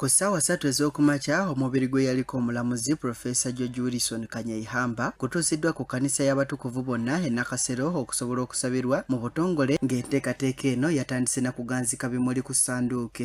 ku ssaawa satu ez'okumakya omubiri gwe yaliko omulamuzi profesa george wilson kanyaihamba kutuusiddwa ku kanisa y'abatukuvu bonna e nakasero okusobola okusabirwa mu butongole ng'enteekateeka eno yatandise na kuganzika bimuli ku sanduuke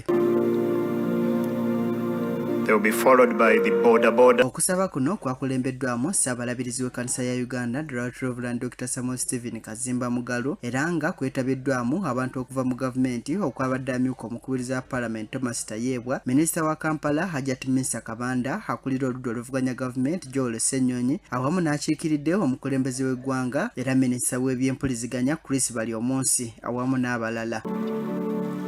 okusaba kuno kwakulembeddwamu ssaabalabirizi w'ekkanisa ya uganda dr samuel stephen kuzimba Mugalu era nga kwetabiddwamu abantu okuva mu gavumenti okwabadde amyuka omukubiriza wa palamenti Thomas Tayebwa, minisita wa Kampala Hajat Minsa Kabanda, akulira oludda oluvuganya gavumenti Joel Ssenyonyi awamu n'akiikiridde omukulembeze w'eggwanga era minisita w'ebyempuliziganya Chris Baryomunsi awamu n'abalala.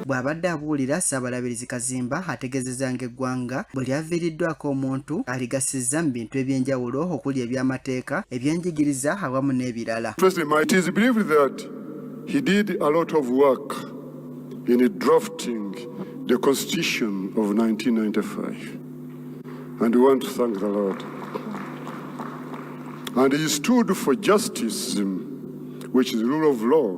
Bw'abadde abuulira, Ssaabalabirizi Kazimba ategeezezza ng'eggwanga bwe lyaviiriddwako omuntu aligassizza mu bintu eby'enjawulo okuli eby'amateeka, ebyenjigiriza awamu n'ebirala. He did a lot of work in drafting the Constitution of 1995. And we want to thank the Lord. And he stood for justice, which is rule of law.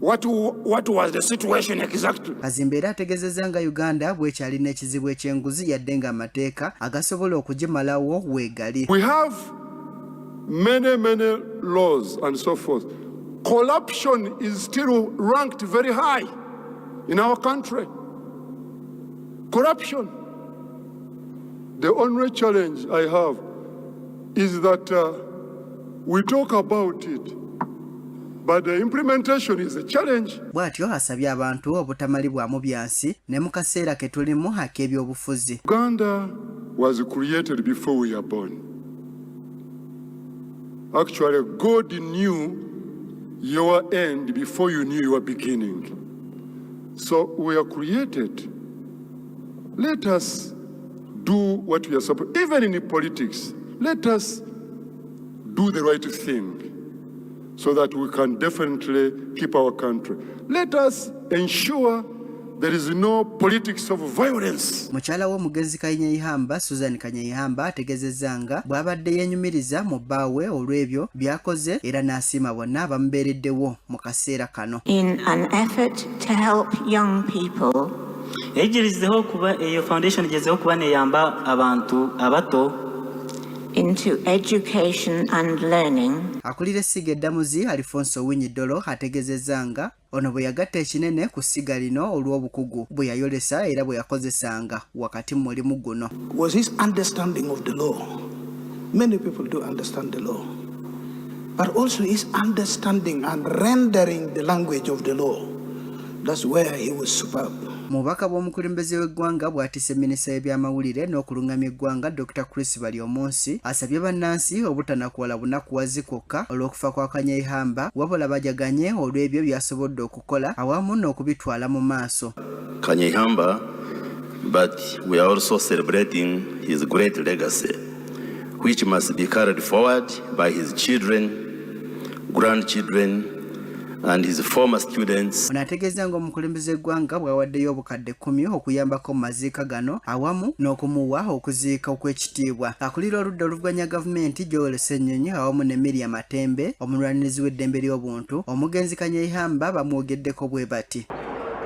What, what was the situation exactly? Kazimba era ategezeza nga Uganda bwekyali n'ekizibu ekyenguzi yadde nga amateeka agasobola okugimalawo weegali. We have many many laws and so forth. Corruption is still ranked very high in our country. Corruption. The only challenge I have is that uh, we talk about it but the implementation is a challenge. Bwatyo asabye abantu obutamalibwamu byansi ne mu kaseera ke tulimu ak'ebyobufuzi. Uganda was created before we are born. Actually, God knew your end before you knew your beginning. So we are created Let us do what we are supposed even in politics let us do the right thing so that we can definitely keep our country let us ensure There is no politics of violence. Mukyala w'omugenzi Kanyeihamba Susan Kanyeihamba ategezezza nga bw'abadde yenyumiriza mu bbaawe olw'ebyo by'akoze era n'asiima bonna abamubeereddewo mu kaseera kano. In an effort to help young people eyigirizeho kuba eyo foundation igezeho kuba neyamba abantu abato into education and learning akulira essiga eddamuzi alifonso owinyi ddolo ategezezza nga ono bwe yagatta ekinene ku ssiga lino olw'obukugu bwe yayolesa era bwe yakozesanga wakati mu mulimu guno was his understanding of the law many people do understand the law but also his understanding and rendering the language of the law That's where he was superb. Mubaka bw'omukulembeze w'eggwanga bwatise minisita y'ebyamawulire n'okulungamya eggwanga Dr. Chris Baryomunsi asabye bannansi obutanakuwala bunakuwazi kwokka olw'okufa kwa Kanyeihamba wabula bajaganye olw'ebyo byasobodde okukola awamu n'okubitwala mu maaso. Kanyeihamba but we are also celebrating his great legacy which must be carried forward by his children, grandchildren and his former students. Ono ategeeza nga omukulembeze eggwanga bwawaddeyo obukadde kumi okuyambako mu maziika gano awamu n'okumuwa okuziika okw'ekitiibwa. Akulira oludda oluvuganya gavumenti Joel Ssenyonyi awamu ne Miria Matembe omulwanirizi w'eddembe ly'obuntu omugenzi Kanyeihamba bamwogeddeko bwe bati.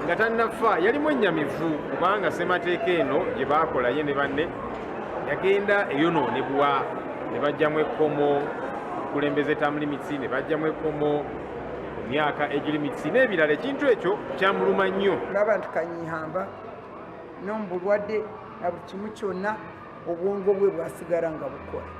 nga tannafa yalimu ennyamivu kubanga ssemateeka eno gye baakola ye ne banne yagenda eyonoonebwa ne bajjamu ekkomo okulembeza term limits ne bajjamu ekkomo myaka age limits n'ebirala ekintu ekyo kyamuluma nnyo laba nti kanyihamba nomubulwadde na buli kimu kyonna obwongo bwe bwasigala nga bukola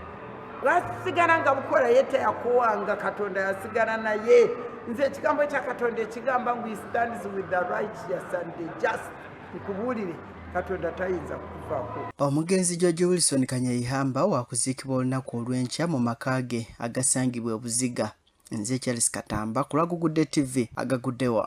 bwasigala nga bukola ye teyakuwanga katonda yasigala naye nze ekigambo kya katonda ekigamba ngu stands with the righteous and the just nkubuulire katonda tayinza kukuvako omugenzi george wilson kanyeyihamba wakuziikibwa olunaku olw'enkya mu maka ge agasangibwa obuziga nze charles katamba kulagugudde tv agaguddewa